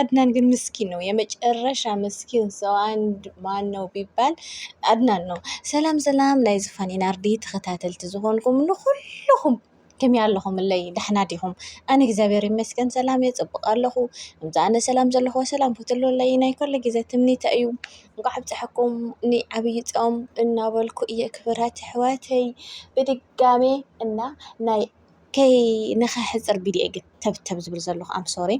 አድናን ግን ምስኪን ነው፣ የመጨረሻ ምስኪን ሰው አንድ ማን ነው ቢባል አድናን ነው። ሰላም ሰላም ናይ ዝፋን ኢናርዲ ተኸታተልቲ ዝኾንኩም ንኹልኹም ከመይ ኣለኹም ኣለይ ዳሕና ዲኹም? ኣነ እግዚኣብሔር ይመስገን ሰላም እየ ፅቡቅ ኣለኹ። እምዛ ኣነ ሰላም ዘለኹ ሰላም ክትህልወለይ ናይ ኩሉ ግዜ ትምኒተ እዩ። እንኳዕ ኣብፀሐኩም ንዓብይ ፆም እናበልኩ እየ ክብራት ኣሕዋተይ ብድጋሜ እና ናይ ከይ ንኸሕፅር ቢድዮ ግን ተብተብ ዝብል ዘለኹ ኣም ሶሪ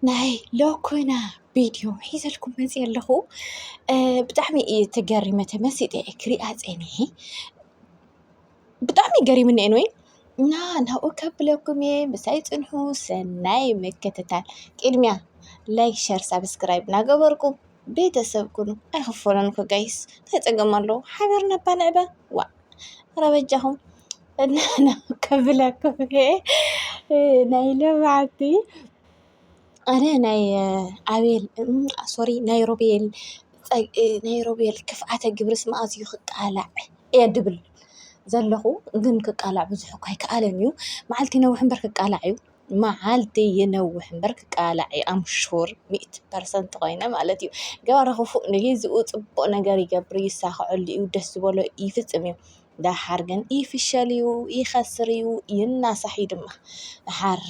ናይ ሎኮና ቢድዮ ሒዘልኩም መፂ ኣለኹ ብጣዕሚ እዩ ተገሪመ ተመሲጠ እየ ክሪኣ ፀኒሐ ብጣዕሚ ገሪምኒ ኤንወይ እና ናብኡ ከብለኩም እየ ምሳይ ፅንሑ ሰናይ ምክትታል ቅድሚያ ላይክ ሸር ሳብስክራይብ እናገበርኩም ቤተ ሰብ ኩኑ ኣይክፈሎን እኮ ጋይስ ታይ ፀገም ኣለዎ ሓቢርና እባ ንዕበ ዋእ ኧረ በጃኹም እና ከብለኩም ናይ ልምዓቲ ኣነ ናይ ኣቤል ሶሪ ናይ ሮቤል ናይ ሮቤል ክፍኣተ ግብርስ መኣዝ እዩ ክቃላዕ እየ ድብል ዘለኹ ግን ክቃላዕ ብዙሕ እኳ ኣይከኣለን እዩ መዓልቲ ይነውሕ እምበር ክቃላዕ እዩ። መዓልቲ ይነውሕ እምበር ክቃላዕ እዩ ኣም ሹር ሚእቲ ፐርሰንት ኮይነ ማለት እዩ። ገባር ክፉእ ንግዚኡ ጽቡቕ ነገር ይገብር እዩ፣ ይሳኸዐሉ እዩ፣ ደስ ዝበሎ ይፍጽም እዩ። ደሓር ግን ይፍሸል እዩ፣ ይኸስር እዩ፣ ይናሳሕ እዩ ድማ። ደሓር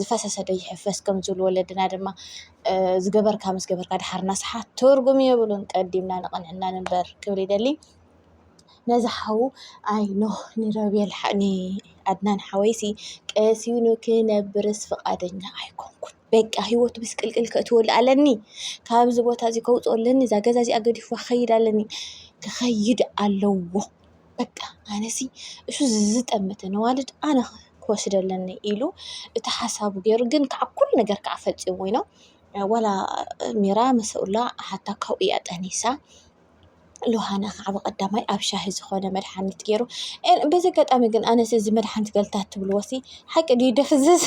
ዝፈሰሰ ዶ ይሕፈስ ከም ዝብሉ ወለድና ድማ እ፣ ዝገበርካ ምስ ገበርካ ደሓር ናስሓ ትርጉም የብሉን፣ ቀዲምና ንቕንዕና ንንበር ክብል ይደሊ። ነዚ ሓው ኣይ ኖህ ንሮቤል ንኣድናን ሓወይሲ ቀሲኑ ክነብርስ ፍቓደኛ ኣይኮንኩን በቃ ሂወቱ ምስቅልቅል ከእትወሉ ኣለኒ ካብዚ ቦታ እዚ ከውፅኦ ኣለኒ እዛ ገዛ እዚኣ ገዲፉ ክኸይድ ኣለኒ ክኸይድ ኣለዎ በቃ ኣነሲ እሱ ዝዝጠመተ ነዋልድ ኣነ ክወስድ ኣለኒ ኢሉ እቲ ሓሳቡ ገይሩ ግን ከዓ ኩሉ ነገር ከዓ ፈፂሙ ኢኖ ዋላ ሚራ መሰኡላ ሓታ ካብኡ እያ ጠኒሳ ሎሃና ከዓ ብቀዳማይ ኣብ ሻሂ ዝኾነ መድሓኒት ገይሩ በዚ ኣጋጣሚ ግን ኣነስ እዚ መድሓኒት ገልታት ትብልዎሲ ሓቂ ድዩ ደፍዝዝ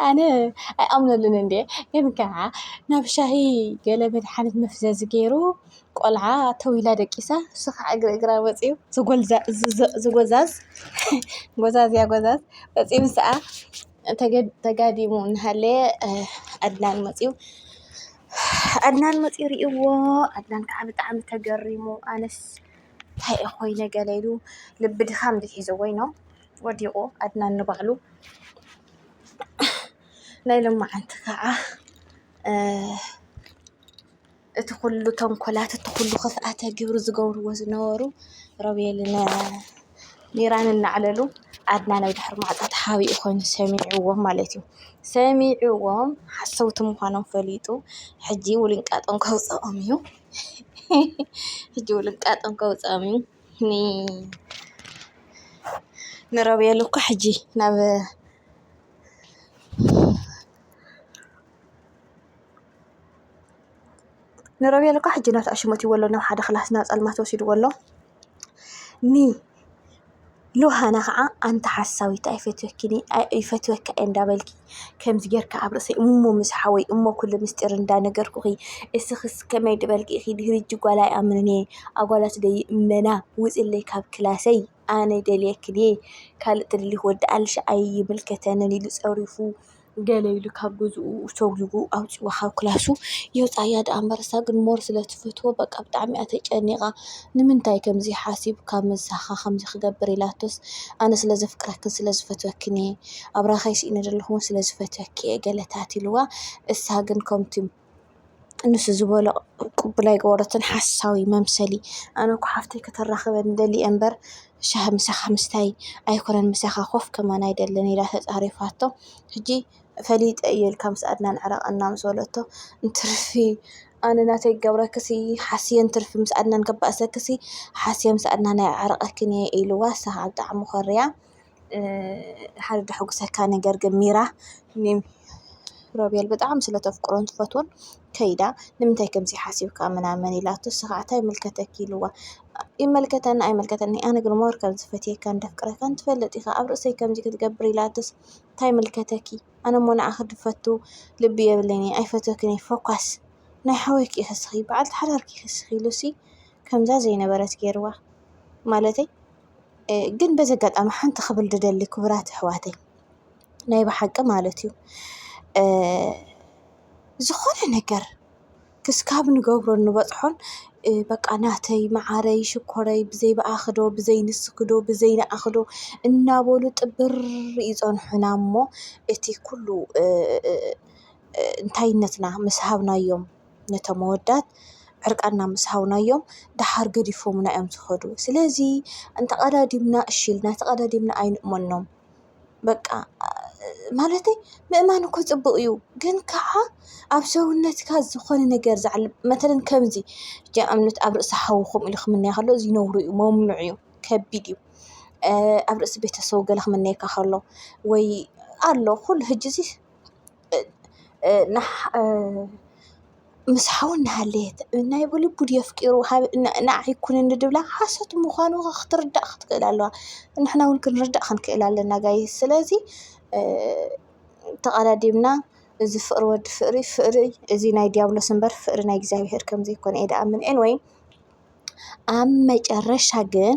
ኣነ ኣይኣምነሉን እንድየ ግን ከዓ ናብ ሻሂ ገለ መድሓኒት መፍዘዚ ገይሩ ቆልዓ ተዊላ ደቂሳ እሱ ከዓ እግሪ እግራ ወፂኡ ዝጎልዛ- ዝ- ዝ- ዝጎዛዝ ጎዛዝያ ጎዛዝ ወፂኡ ምስ ከዓ ተጋዲሙ እናሃለየ ኣድናን መፂኡ ኣድናን መፂኡ ርእይዎ ኣድናን ከዓ ብጣዕሚ ተገሪሙ ኣነስ እንታይ እየ ኮይነ ገለ ኢሉ ልቢ ድኻም ድዩ ሒዝዎ ኢዩ እሞ ወዲቑ ኣድናን ንባዕሉ ናይ ሎማዓንቲ ከዓ እቲ ኩሉ ተንኮላት እቲ ኩሉ ኸፍኣተ ግብሪ ዝገብርዎ ዝነበሩ ሮቤልን ሚራን እናዕለሉ ኣድና ናይ ድሕሪ ማዕጾ ተሓቢኡ ኮይኑ ሰሚዕዎም ማለት እዩ። ሰሚዕዎም ሓሰውቲ ምዃኖም ፈሊጡ ሕጂ ውልንቃጦም ከውጽኦም እዩ። ሕጂ ውልንቃጦም ከውጽኦም እዩ። ንሮቤል እኮ ሕጂ ናብ ንሮቤል እኳ ሕጂ ናቱ ኣሽመትዎ ኣሎ ናብ ሓደ ክላስ ናብ ፀልማት ወሲድዎ ኣሎ ን ሉሃና ኸዓ ኣንቲ ሓሳዊት ኣይፈትወክን እየ ይፈትወካ እየ እንዳበልኪ ከምዚ ጌርካ ኣብ ርእሰይ እሞ ምስ ሓወይ እሞ ኩሉ ምስጢር እንዳነገርኩኺ እስኽስ ከመይ ድበልኪ ኢኺ ድሕሪ ሕጂ ጓል ኣይኣምንን እየ ኣጓላት ደይእመና ውፅለይ ካብ ክላሰይ። ኣነ ይደልየኪ ድየ ካልእ ትደልዪ ወዲ ኣልሽ ኣይምልከተንን ኢሉ ፀሪፉ ገለ ኢሉ ካብ ገዝኡ ሰጒጉ ኣውፂኡ ካብ ክላሱ የውፅኣ ድኣ እምበር እሳ ግን ሞር ስለ ትፈትዎ በቃ ብጣዕሚ እያ ተጨኒቓ ንምንታይ ከምዚ ሓሲብካ ምሳኻ ከምዚ ክገብር ኢላቶስ ኣነ ስለ ዘፍቅረክን ስለ ዝፈትወክን እየ ኣብራኻይ ስኢነ ዘለኹ ስለ ዝፈትወኪ እየ ገለ ተባህሉ እሳ ግን ከምቲ ንሱ ዝበሎ ቅቡል ኣይገበረቶን ሓሳዊ መምሰሊ ኣነ እኮ ሓፍተይ ከተራኽበኒ ደልየ እምበር ሻሂ ምሳኻ ምስታይ ኣይኮነን ምሳኻ ኮፍ ክብል ኣይደልን ኢላ ተፃሪፋቶ ሕጂ ፈሊጠ እየ ኢልካ ምስ ኣድናን ዕረቕ እና ምስ በለቶ እንትርፊ ኣነ ናተይ ክገብረክሲ ሓስየ እንትርፊ ምስ ኣድናን ከባእሰክሲ ሓስየ ምስ ኣድናን ኣዕርቀክን እየ ኢልዋ ንሳ ከዓ ብጣዕሚ ኮርያ። ሓደ ዘሐጉሰካ ነገር ግን ሚራ ሮቤል ብጣዕሚ ስለ ተፍቅሮን ትፈትዎን ከይዳ ንምንታይ ከምዚ ሓሲብካ ምናምን ኢላቶ ንሱ ካዓ ታይ ይምልከተኪ ኢልዋ ይመልከተኒ ኣይመልከተኒ ኣነ ግን ሞር ከም ዘፈትየካን እንደፍቅረካን ትፈልጥ ኢካ ኣብ ርእሰይ ከምዚ ክትገብር ኢላትስ ታይ ይምልከተኪ ኣነ እሞ ንዓኪ ዝፈቱ ልቢ የብለይን እየ ኣይፈትወክን እየ ፎኳስ ናይ ሓወልኪ ኢኪ ንስኪ በዓልቲ ሓዳርኪ ኢኪ ንስኪ ኢሉሲ ከምዛ ዘይነበረት ገይርዋ ማለተይ። ግን በዚ ኣጋጣሚ ሓንቲ ክብል ዝደሊ ክቡራት ኣሕዋተይ ናይ ብሓቂ ማለት እዩ ዝኾነ ነገር ክስካብ ንገብሮ ንበፅሖን በቃ ናተይ መዓረይ ሽኮረይ ብዘይ ብኣኺ ዶ ብዘይ ንስኺ ዶ ብዘይ ንዓኺ ዶ እናበሉ ጥብር ይፀንሑና እሞ እቲ ኩሉ እንታይነትና ምስ ሃብናዮም ነቶም ኣወዳት ዕርቃና ምስ ሃብናዮም ደሓር ገዲፎሙና እዮም ዝኸዱ። ስለዚ እንተቐዳዲምና እሺ ኢልና ተቐዳዲምና ኣይንእመኖም። በቃ ማለተይ ምእማን እኮ ፅቡቕ እዩ። ግን ከዓ ኣብ ሰውነትካ ዝኾነ ነገር ዝዓልብ መተለን ከምዚ ንኣብነት ኣብ ርእሲ ሓዊ ከምኡ ኢሉ ክምነያ ከሎ እዚ ነውሪ እዩ መምኑዕ እዩ ከቢድ እዩ። ኣብ ርእሲ ቤተሰቡ ገለ ክምነየካ ከሎ ወይ ኣሎ ኩሉ ህጅዚ። ምስ ሓው እናሃለየት ናይ ብልቡ ድዩ ኣፍቂሩ ንዓይ ኩንኒ ዝብላ ሓሶት ምዃኑ ክትርዳእ ክትክእል ኣለዋ። ንሕና እውን ክንርዳእ ክንክእል ኣለና ጋይስ ስለዚ ተቀዳዲምና እዚ ፍቅሪ ወዲ ፍቅሪ ፍቅሪ እዚ ናይ ዲያብሎስ እምበር ፍቅሪ ናይ እግዚኣብሔር ከም ዘይኮነ እየ ዝኣምን ኤኒ ዌይ ኣብ መጨረሻ ግን